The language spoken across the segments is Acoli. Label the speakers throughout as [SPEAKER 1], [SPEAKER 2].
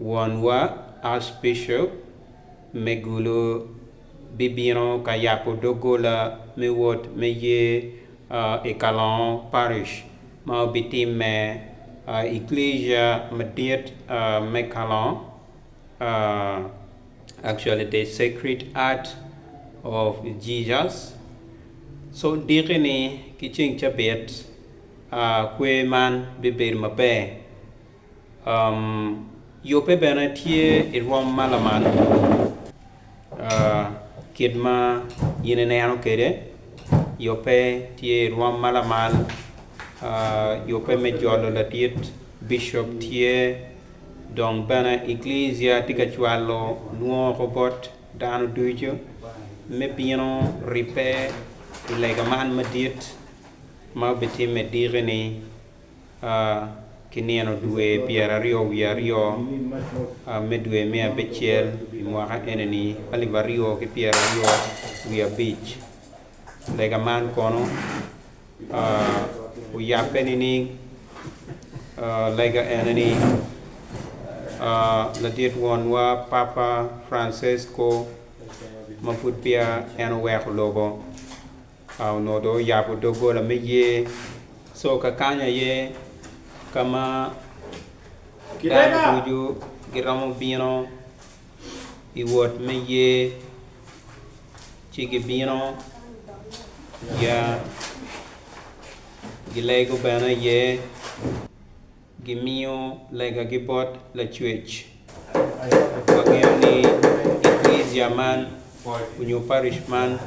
[SPEAKER 1] Wonwa Archbishop Megulo bibino ka yabo doggola me wot me yer i Kalongo Parish ma obitimme i Iglesia madit me Kalongo, actually the Sacred Heart of Jesus, so diki ni ki ceng cabit kwer man bibedo maber. Yubbe bene tye i rwom ma lamal kit ma in ineno kwede, yubbe tye i rwom ma lamal yubbe me jolo ladit bicop tye dong bene Eklisia tye ka cwalo lwongo bot dano ducu me bino ribbe i lega man madit ma obitimme diki-ni. A Ki nino dwe pyeraryo wiye aryo a me dwe me abicel i mwaka enini alip aryo ki pyeraryo wiye abic, lega man kono a oyabbe nining? A Lega enini a Ladit Wonwa Papa Francesco ma pud peya en oweko lobo, Ka onongo dong oyabo doggola me yer, so ka kany aye ka ma dano ducu giromo bino i wot me yer, ci gibino, ya, gilego bene iye. Gimiyo legagi bot Lacwec. Wangeyo ni Eklezia man onyo Parish man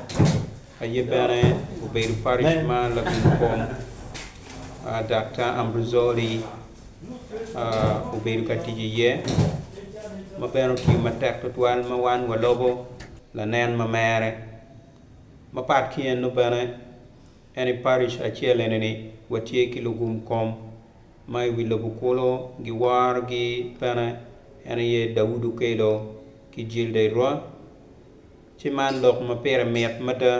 [SPEAKER 1] aye bene obedo Parish ma Lagum kom Daktar Ambruzoli obedo ka tic iye, ma bene otiyo matek twatwal ma wan walobo lanen ma mere. Mapat ki eno bene, En i parish acel ene ni watye ki lugum kom ma i wi lobo kulu giworo gi pene en aye Daud Okello ki Gilda Irwa ci man lok ma pire mit mada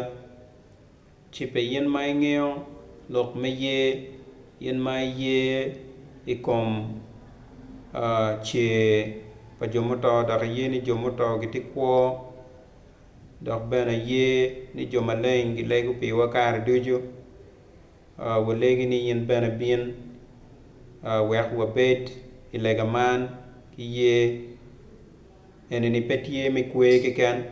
[SPEAKER 1] ci pe in ma ingeyo lok me yer in ma iyer i kom cer pa jo muto dok iyer ni jo muto gitye kwo dok bene aye ni jo maleng gilego piwa kare ducu. Walegi ni in bene ibin wek wabed i lega man ki yer. Enini pe tye me kwer keken,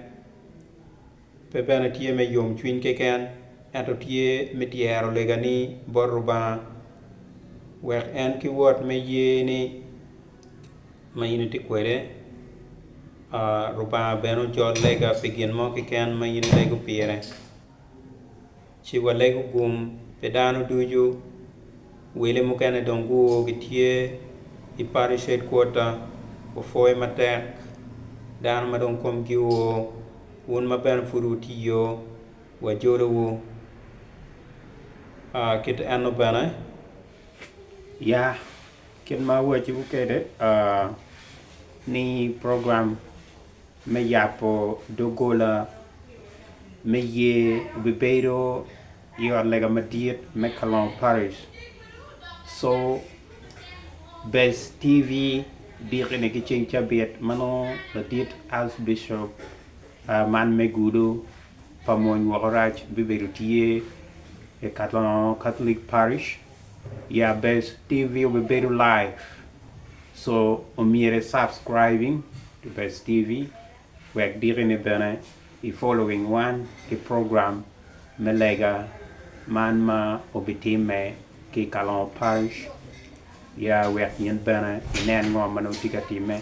[SPEAKER 1] pe bene tye me yomcwiny keken, ento tye me tyero legani bot Lubanga wek en ki wot me yerni. ma in itye kwede. Lubanga bene ojol lega pi gin mo keken ma in ilego pire. Ci walego gum pi dano ducu. Wele mukene dong guo gitye i party shed kwota, wupwoyo matek dano ma dong komgi oo. Wun ma bene pud wutye iyo, wajolowu. Kit enno bene, ya Kit ma awaco kwede ni program me yabo dogola me ye obibedo i ot lega madit me kalongo parish so bes TV diki ni ki ceng cabit ma nongo ladit Arch Bishop man me gudo pa mony woko rac bibedo tye i kalongo Catholic parish Ya best TV obibedo live so omyero i subscribing to best TV wek diki ni bene i following wan ki program me lega man ma obitimme ki i Kalongo Parish ya wek in bene inen ngo ma nongo tye ka timme.